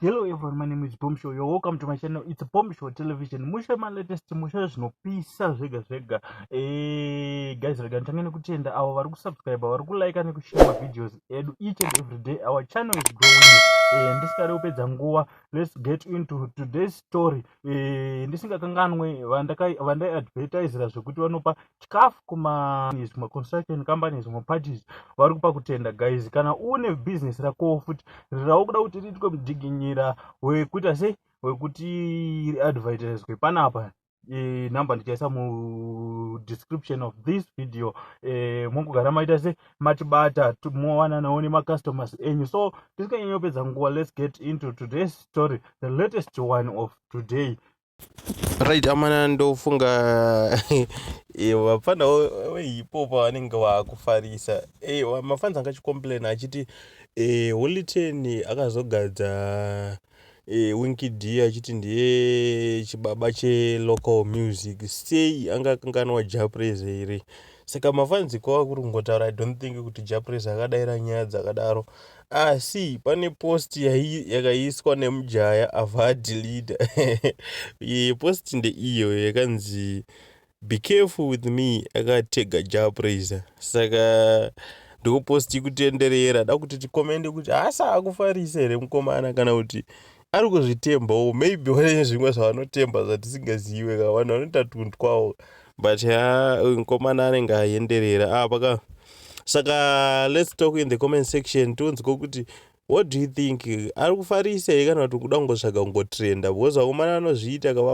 Hello everyone, my name is Bomb Show. You're welcome to my channel. It's Bomb Show Television. Mushe my latest mushe zvinopisa zvega zvega. Eh, guys, rega ntange nekutenda avo vari kusubscribe, vari kulike nekushare ma videos edu each and every day. Our channel is growing. Eh, ndisingade kupedza nguva. Let's get into today's story. Eh, ndisingakanganwe vandai advertisera zvekuti vanopa chikafu kumazvimwe construction companies zvimwe parties vari kupa kutenda guys kana une business rakowo futi rirawo kuda kuti riitwe mudziginyira wekuita sei wekuti riadvertiswe panapa e, number ndichaisa mudescription of this video e, mongogara maita se matibata mowananawo nemacustomers enyu so tisinganyanyopedza nguva let's get into today's story the latest one of today right amana ndofunga eh, vapfana vehipopa vanenge vakufarisa eh, mafans anga achicomplain achiti eh, holy ten akazogadza winki d achiti ndiye chibaba chelocal music sei anga akanganwa japrese here saka mafans kwava kuri kungotaura i don't think kuti japrese akadaira nyaya dzakadaro asi pane post yakaiswa nemujaya avadilida iye post ndeiyo yakanzi be careful with me akatega japraiser saka ndoposti kutenderera da kuti tikomende kuti haasa akufarisa here mukomana kana kuti ari kuzvitembawo maybe vane zvimwe zvavanotemba zvatisingazive ka vanhu vanoita tunhu twawo but ha mukomana anenge aenderera apa ah, ka saka let's talk in the comment section tonzwa kuti what do you think ari kufarisa here kana kuti kuda kungotsvaga kungotrenda because vakomana vanozviita kava